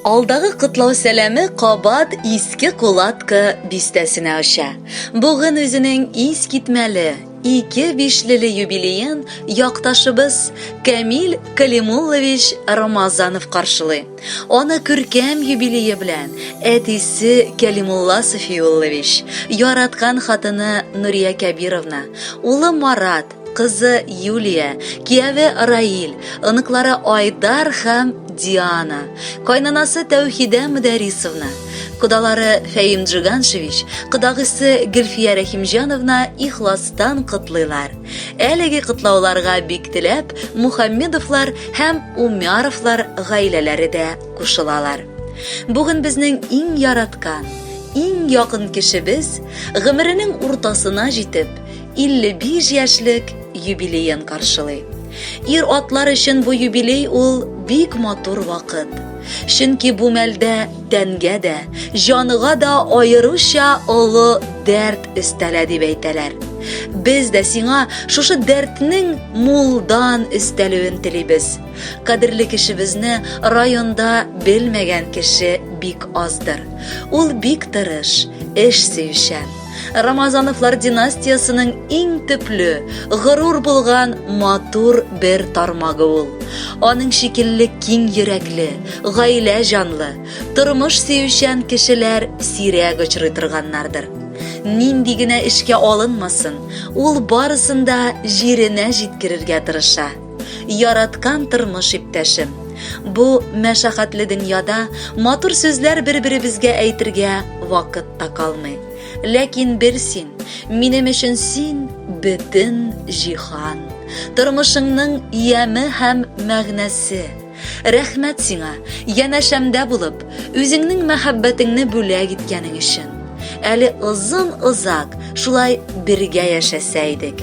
Алдагы котлау сәламе кабат Иске Кулатка бистәсенә оча. Бүген үзенең искитмәле, ике бишлеле юбилеен якташыбыз Камил Калимуллович Рамазанов каршылый. Аны күркәм юбилее белән әтисе Калимулла Софиуллович, яраткан хатыны Нурия Кәбировна, улы Марат, Кызы Юлия, кияве Раил, оныклары Айдар һәм Диана, кайнанасы Тәүхидә Мөдәрисовна, кодалары Фәим Джигансевич, кодагысы Гөлфия Рәхимҗановна ихластан котлыйлар. Әлеге котлауларга бик теләп Мухаммедовлар һәм Умяровлар гаиләләре дә кушылалар. Бүген безнең иң яраткан, иң якын кешебез гомеренең уртасына җитеп, 55 яшьлек юбилеен каршылый. Ир атлар өчен бу юбилей ул бик матур вакыт. Чөнки бу мәлдә тәнгә дә, җаныга да аеруча олы дәрт өстәлә дип әйтәләр. Без дә сиңа шушы дәртнең мулдан өстәлүен телибез. Кадерле кешебезне районда белмәгән кеше бик аздыр. Ул бик тырыш, эш сөючән. Рамазановлар династиясенең иң төпле, горур булган матур бер тармагы ул. Аның шикелле киң йөрәкле, гаилә җанлы, тормыш сөючән кешеләр сирәк очрый торганнардыр. Нинди генә эшкә алынмасын, ул барысын да җиренә җиткерергә тырыша. Яраткан тормыш иптәшем. Бу мәшәкатьле дөньяда матур сүзләр бер-беребезгә әйтергә вакыт та калмый. Ләкин бер син, минем өчен син бөтен җиһан. Тормышыңның яме һәм мәгънәсе. Рәхмәт сиңа, янәшәмдә булып, үзеңнең мәхәббәтеңне бүләк иткәнең өчен. Әле озын-озак шулай бергә яшәсә идек.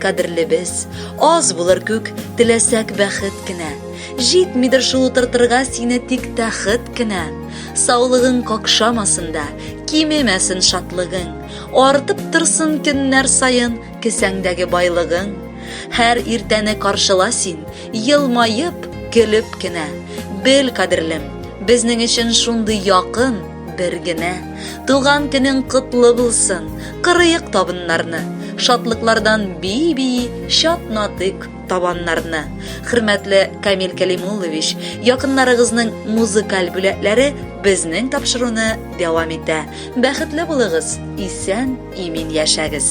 Кадерлебез, аз булыр күк, теләсәк бәхет кенә. Җитмидер шул утыртырга сине тик тәхет кенә. Саулыгың какшамасын да, кимемәсен шатлыгың. Артып торсын көннәр саен кесәңдәге байлыгың. Һәр иртәне каршыла син, елмаеп, көлеп кенә. Бел, кадерлем, безнең өчен шундый якын, Бер генә туган көнең котлы булсын, кырыек табыннарны, шатлыклардан бии-бии чатнатыйк табаннарны. Хөрмәтле Камил Кәлимуллович, якыннарыгызның музыкаль бүләкләре безнең тапшыруны дәвам итә. Бәхетле булыгыз, исән-имин яшәгез!